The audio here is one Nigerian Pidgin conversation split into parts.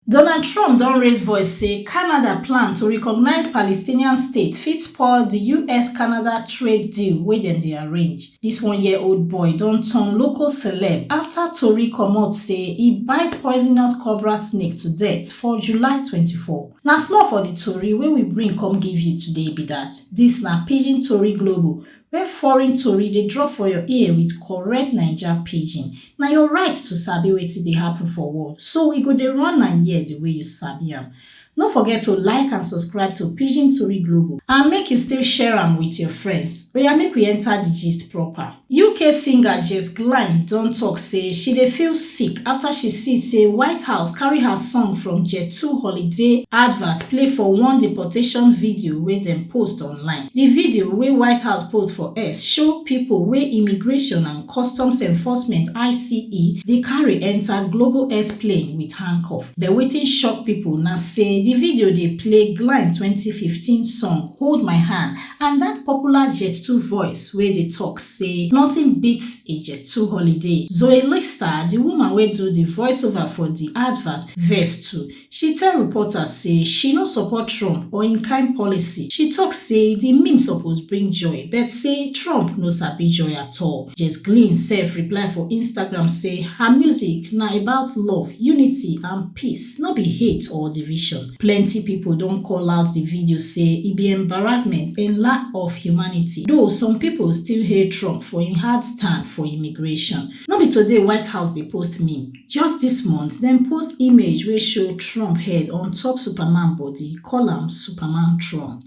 Donald Trump don raise voice say Canada plan to recognise Palestinian state fit spoil di US-Canada trade deal wey dem dey arrange. Dis one-year-old boy don turn local celeb afta tori comot say e bite poisonous cobra snake to death for July twenty four. Na small for di tori wey we bring come give you today be dat. Dis na Pidgin Tori Global, When foreign tori dey drop for your ear with correct Naija pidgin, na your right to sabi wetin dey happen for world, so we go dey run am here the way you sabi am. No forget to like and subscribe to Pidgin Tori Global and make you still share am with your friends. Oya make we enter the gist proper. UK singer Jess Glynne don talk say she dey feel sick after she see say White House carry her song from Jet2 holiday advert play for one deportation video wey dem post online. Di video wey White House post for X show pipo wey Immigration and Customs Enforcement, ICE, dey carry enta Global X plane wit handcuff. But wetin shock pipo na say di video dey play Glynn twenty fifteen song Hold My Hand and dat popular Jet2 voice wey dey tok say nothing beats a Jet2 holiday. Zoe Lister, di woman wey do di voiceover for di advert, vex too. She tell reporters say she no support Trump or im kain policy. She tok say di meme suppose bring joy but say Trump no sabi joy at all. Jess Glynne sef reply for Instagram say her music na about love, unity and peace, no be hate or division. Plenty pipo don call out di video say e be embarrassment and lack of humanity, though some pipo still hail Trump for im hard stand for immigration. No be today White House dey post meme. Just dis month, dem post image wey show Trump head on top Superman body, call am Superman Trump.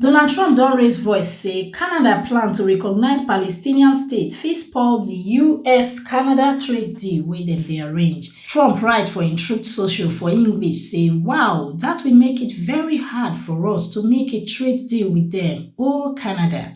Donald Trump don raise voice say Canada plan to recognise Palestinian state fit spoil di US-Canada trade deal wey dem dey arrange. Trump write for im Truth Social for English say, Wow, dat will make it very hard for us to make a trade deal with dem, oh Canada.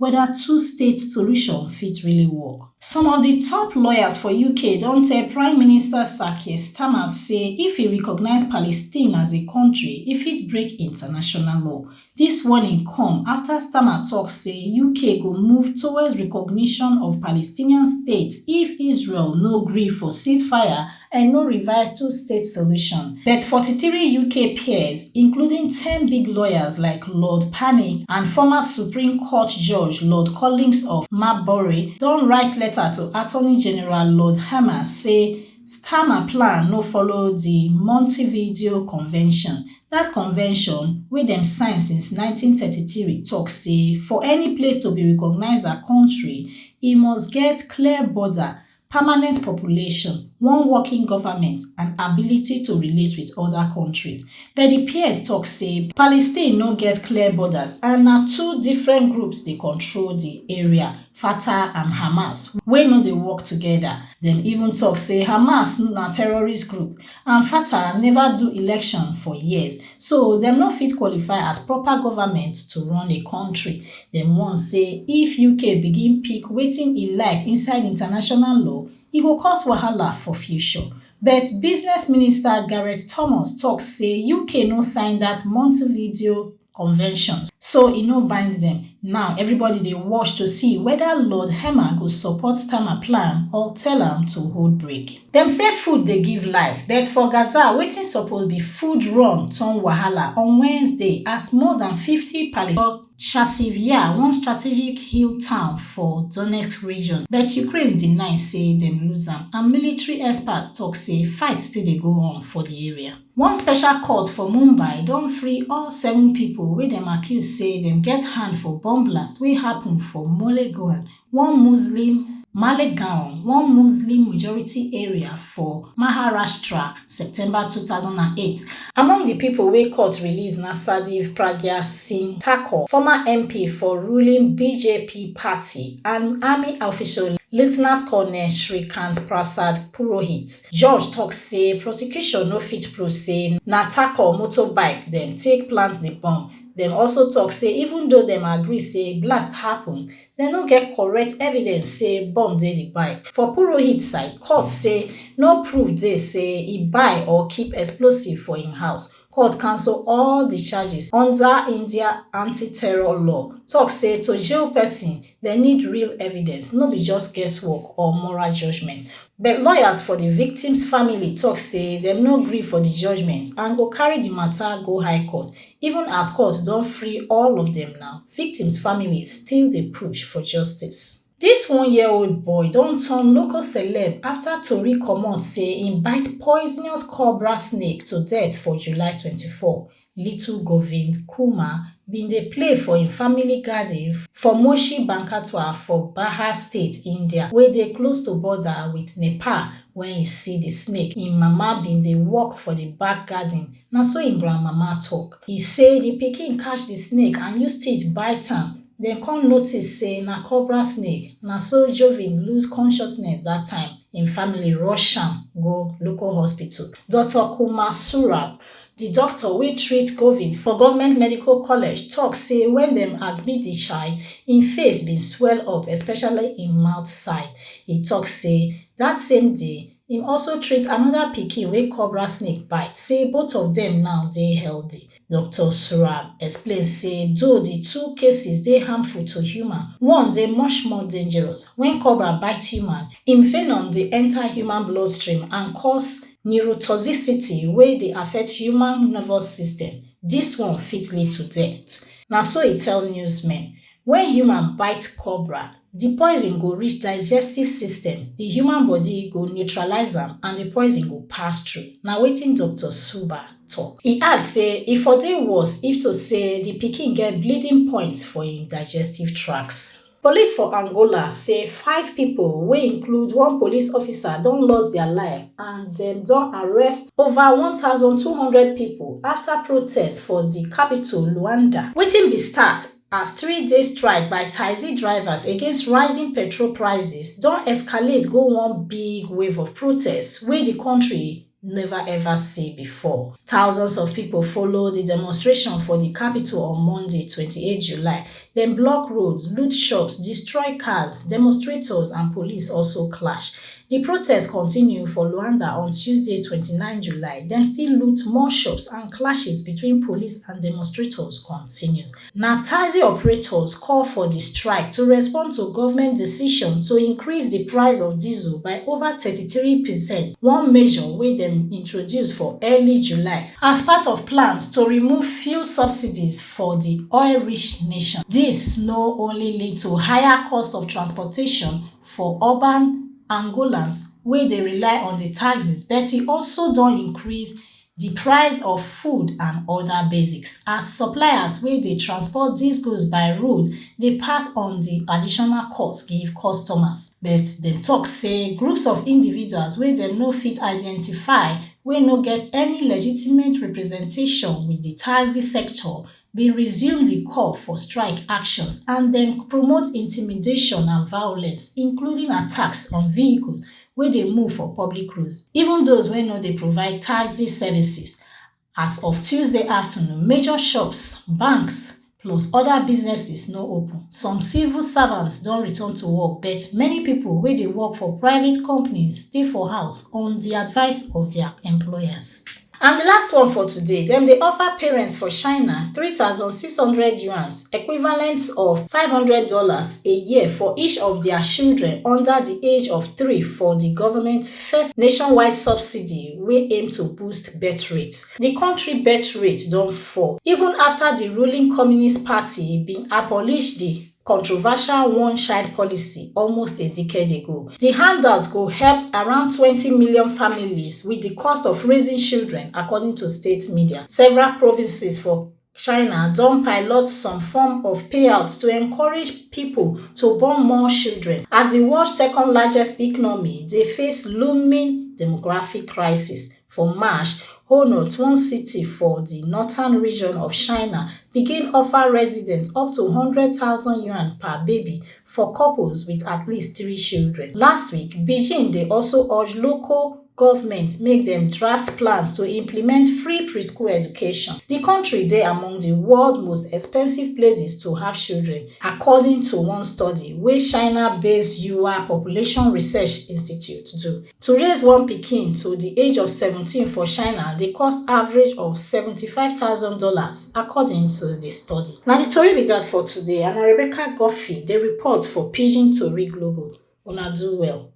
weda two-state solution fit really work. Some of di top lawyers for UK don tell Prime Minister Sir Keir Starmer say if e recognise Palestine as a kontri, e fit break international law. Dis warning come afta Starmer tok say UK go move towards recognition of Palestinian state if Israel no gree for ceasefire and no revised two-state solution, but 43 UK peers, including 10 big lawyers like Lord Pannick and former Supreme Court Judge Lord Collins of Marbury, don write letter to Attorney General Lord Hammer say Starmer plan no follow di Montevideo Convention, dat convention, wey dem sign since 1933, tok say for any place to be recognised as kontri, e must get clear border permanent population one working goment and ability to relate wit oda kontris but di ps tok say palestine no get clear borders and na two different groups dey control di area fatah and hamas wey no dey work togeda dem even tok say hamas na terrorist group and fata neva do election for years so dem no fit qualify as proper goment to run a kontri dem warn say if uk begin pick wetin e like inside international law e go cause wahala for future but business minister gareth thomas tok say uk no sign dat montevideo conventions, so e no bind dem. Now, everybody dey watch to see whether Lord Herman go support Starmer plan or tell am to hold brake. Dem say food dey give life, but for Gaza, wetin suppose be food run turn wahala on Wednesday as more than fifty Palestinians Chasiv Yar, one strategic hill town for Donetsk region, but Ukraine deny say dem lose am, and military experts tok say fight still dey go on for di area. One special court for Mumbai don free all seven pipo wey dem accuse say dem get hand for bomb blast wey happun for Malegaon, one Muslim Malegaon, one Muslim majority area for Maharashtra, September two thousand and eight. Among di pipo wey court release na Sadeev Pragya Singh Thakur, former MP for ruling BJP party, and army official Lieutenant Colonel Shrikant Prasad Purohit. Judge tok say prosecution no fit prove say na attack or motorbike dem take plant di bomb. Dem also tok say even though dem agree say blast happun, dem no get correct evidence say bomb dey di bike. For Purohit side, court say no proof dey say e buy or keep explosive for im house. Court cancel all di charges under India anti-terror law, tok say to jail pesin, Dem need real evidence, no be just guesswork or moral judgement. But lawyers for di victims family tok say dem no gree for di judgement and go carry di mata go high court. Even as court don free all of dem now, victims families still dey push for justice. Dis one-year-old boy don turn local celeb afta tori comot say im bite poisonous cobra snake to death for July twenty four. Little Govind Kumar bin dey play for im family garden for Moshi Bankatwa for Bahar State, India wey dey close to border wit Nepal wen e see di snake. Im mama bin dey work for di back garden, na so im grandmama tok. E say di pikin catch di snake and use teeth bite am, dem come notice say na cobra snake, na so Jovind lose consciousness dat time. Im family rush am go local hospital. Doctor Kumar Surab Di doctor wey treat Govin for Government Medical College tok say wen dem admit di chai, im face bin swell up especially im mouth side. E tok say dat same day, im also treat anoda pikin wey cobra snake bite say both of dem now dey healthy. Doctor Surab explain say though di two cases dey harmful to human, one dey much more dangerous, wen cobra bite human, im venom dey enta human bloodstream and cause Neurotoxicity wey dey affect human nervous system, dis one fit lead to death, na so e tell newsmen. Wen human bite cobra, di poison go reach digestive system, di human bodi go neutralise am and di poison go pass through, na wetin Doctor Suba tok. E add say e for dey worse if to say di pikin get bleeding points for im digestive tracts. Police for Angola say five pipo wey include one police officer don lost dia life and dem don arrest over 1200 pipo afta protests for di capital Luanda. Wetin bin start as three day strike by taxi drivers against rising petrol prices don escalate go one big wave of protests wey di kontri neva ever see bifor. Thousands of pipo follow di demonstration for di capital on Monday, twenty eight July, dem block roads, loot shops, destroy cars, demonstrators and police also clash. Di protest continue for Luanda on Tuesday, twenty nine July, dem still loot more shops and clashes between police and demonstrators continues. Na taxi operators call for di strike to respond to govment decision to increase di price of diesel by over thirty three percent, one measure wey dem introduce for early July as part of plans to remove fuel subsidies for di oil-rich nation. Dis no only lead to higher cost of transportation for urban Angolans wey dey rely on di taxis but e also don increase di price of food and oda basics as suppliers wey dey transport dis goods by road dey pass on di additional cost give customers but dem tok say groups of individuals wey dem no fit identify wey no get any legitimate representation wit di taxi sector bin resume di call for strike actions and dem promote intimidation and violence including attacks on vehicles wey dey move for public roads even those wey no dey provide taxi services as of tuesday afternoon major shops banks plus oda businesses no open some civil servants don return to work but many pipo wey dey work for private companies stay for house on di advice of dia employers And di last one for today, dem dey offer parents for China three thousand six hundred yuans, equivalent of five hundred dollars, a year for each of dia children under di age of three for di government first nationwide subsidy wey aim to boost birth rate. Di kontri birth rate don fall even afta di ruling Communist Party bin abolish di controversial one-child policy almost a decade ago. Di handout go help around twenty million families wit di cost of raising children, according to state media. Several provinces for China don pilot some form of payouts to encourage people to born more children as the world second largest economy dey face looming demographic crisis. For March, Honout, one city for di northern region of China, begin offer residents up to yuan per baby for couples wit at least three children. Last week, Beijing dey also urge local govment make dem draft plans to implement free preschool education. Di kontri dey among di world most expensive places to have children, according to one study wey China-based Yuyuan Population Research Institute do. to raise one pikin to di age of 17 for china dey cost average of $75000 according to di study na di tori be dat for today and na rebecca guffey dey report for pidgin tori global una do well